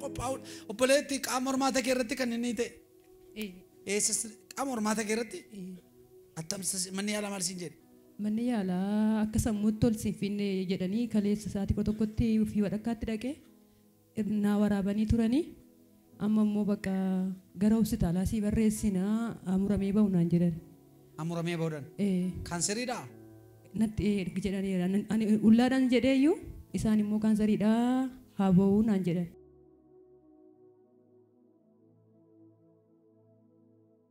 qophaa'udha. Obboleetti qaama hormaata kee irratti kan inni ta'e. Eessas qaama hormaata kee irratti attamsa manni yaalaa maal siin jedhe. Manni yaalaa akka sammuutti ol siin finne jedhanii kaleessa sa'aatii kudha tokkotti fi wadhakkaatti dhaqee naa waraabanii turani. Amma immoo bakka gara hospitaalaa sii barreessina haa muramee bahu naan jedhani. Haa muramee bahu jedhan. Ee. Kaanseriidhaa? Natti ee ergi jedhaniira. Ani ullaadhaan jedhee iyyuu isaan immoo kaanseriidhaa haa bahu naan jedhan.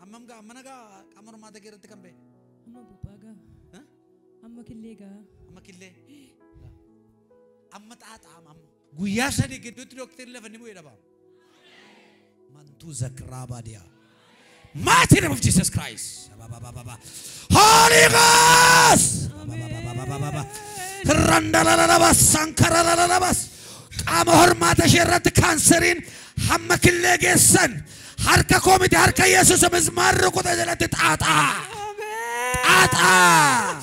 Hammam gaa mana gaa qaama hormaata kee irratti kan ba'e. Amma bubbaa gaa. Ha? Amma killee gaa. Amma killee. Amma xaaxaama amma. Guyyaa sadii gidduutti dooktarri lafa ni bu'ee dhabaama. Mantuu zakraa baadiyaa. Mighty name of Jesus Christ. Ababababa. Holy Ghost. Ababababababa. Randalalabas, sankaralalalabas. Qaama hormaata ishee irratti kaanseriin hamma killee geessan harka koo miti harka Yesuus mismaarri rukuta jalatti xaaxaa. Xaaxaa.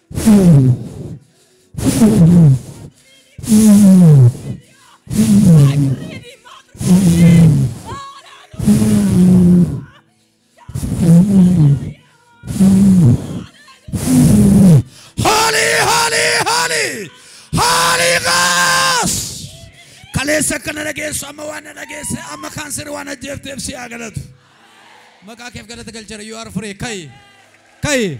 Holy, holy, holy, holy ghost. Kaleessa akka na dhageessu amma waan na dhageesse amma kaanseri waan ajjeefteef si haa galatu. Maqaa keef galata galchera you are free kai kai.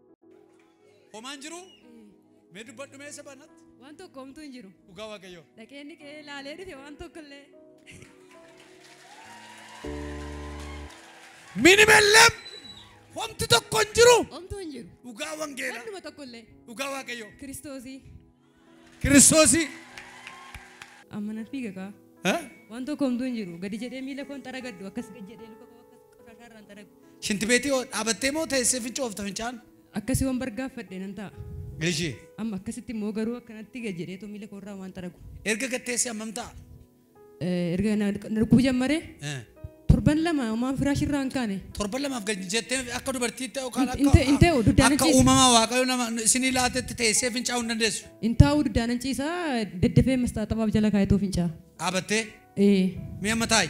Homaan jiru mee dubbadhu mee isa banatti. Waan tokko homtuu hin jiru. Dhugaa waaqayyoo. Dhaqeen dhiqee ilaalee dhufe waan tokko illee. Minim ellam homti tokko hin jiru. Homtuu hin jiru. Dhugaa wangeela. Wannuma tokko illee. Dhugaa waaqayyoo. Kiristoosii. Kiristoosii. Amma nan fiiga kaa. Haa? Waan tokko homtuu hin jiru. Gadi jedhee miila koo hin xaragadhu. Akkas gad jedhee luka koo akkas qoshashaa irraa hin xaragu. Shintibeetii hoo dhaabattee moo teessee fincoofta fincaan? Akkasi waan bargaaffadhe nan ta'a. Eshi. Amma akkasitti immoo garuu akkanatti gad jedhee too miila koo irraa waan xaragu. Erga gad teessee hammam ta'a? Erga na na dhukkubuu jammaree Eh. torban lama homaan firaashii irraa hin kaane. Torban lamaaf gad hin jettee akka dubartiitti yookaan Hin- hin ta'u- hin ta'u, duddaan akka hin ciisu. uumamaa waaqayyo nama isinii laatetti teessee fincaa'uu hin dandeessu. Hin taa'uu duddaanan ciisaa daddafee mastaaxabaaf jala kaayatoo fincaa. Dhaabattee Ee. mi'a mataayi.